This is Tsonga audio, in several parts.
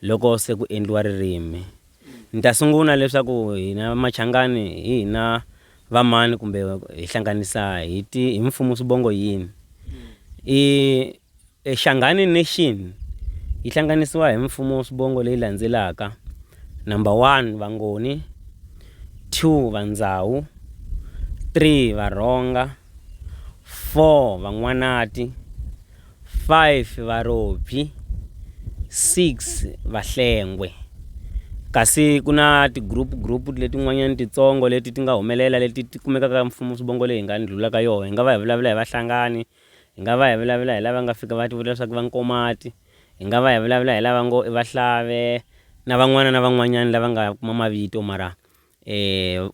Loko se ku endliwa ririmi, ni ta sungula leswaku hina Machangani hi hina vamani kumbe hi hlanganisa hi ti hi mfumo swivongo yini. I e Shangani Nation yi hlanganisiwa hi mfumo swivongo leyi landzelaka, number one Vangoni, two Vandzawu, three Varhonga, four Van'wanati, 5 varobyi, 6 vahlengwe. Kasi ku na ti-group group letin'wanyana titsongo leti ti nga humelela leti ti kumekaka ka mfumo swivongo leyi hi nga ndlhula ka yona. Hi nga va hi vulavula hi vahlangani, hi nga va hi vulavula hi lava nga fika va tivula leswaku va nkomati, hi nga va hi vulavula hi lava ngo i vahlave na van'wana na van'wanyana lava nga kuma mavito mara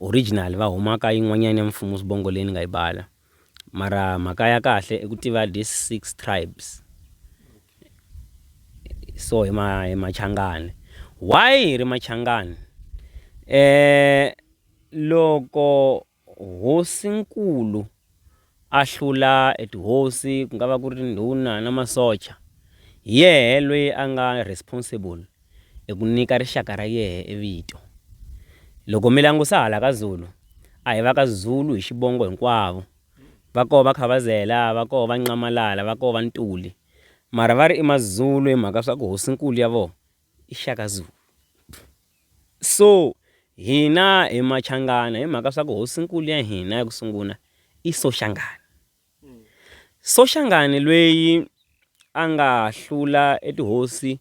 original va huma ka yin'wanyana ya mfumo swivongo leyi ni nga yi bala. Mara mhaka ya kahle i ku tiva this six tribes so hi ma hi machangani why hi ri machangani loko hosinkulu a hlula e tihosi ku nga va ku ri ndhuna na masocha hi yehe lweyi a nga responsible. i ku nyika rixaka ra yehe e vito. Loko mi langusa hala ka Zulu, a hi va ka Zulu hi xivongo hinkwavo. Va koho va Khavazela, va koho va Nxamalala, va koho va Ntuli. Mara va ri i Mazulu hi mhaka swa ku hosinkulu ya voho i Shaka Zulu. So hina hi Machangana hi mhaka swa ku hosinkulu ya hina ya ku sungula i Soshangana. Soshangane lweyi a nga hlula e tihosi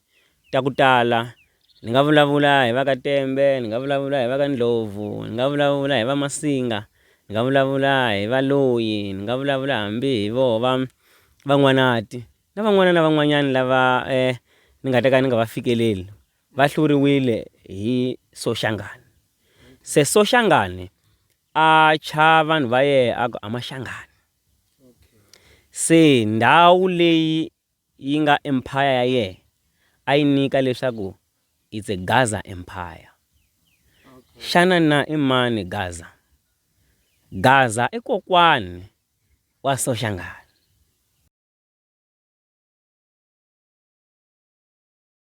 ta ku tala ni nga vulavula hi va ka Tembe ni nga vulavula hi va ka Ndlhovu ni nga vulavula hi va Masinga ni nga vulavula hi va Loyi ni nga vulavula hambi hi voho va Van'wanati na van'wana na van'wanyani lava ni nga ta ka ni nga va fikeleli va hluriwile hi Soshangane se Soshangane a thya vanhu va yena a ku a ma hlangani se ndhawu leyi yi nga empire ya yena a yi nyika leswaku it's a Gaza empire xana na i mani Gaza Gaza i kokwani wa Soshangane.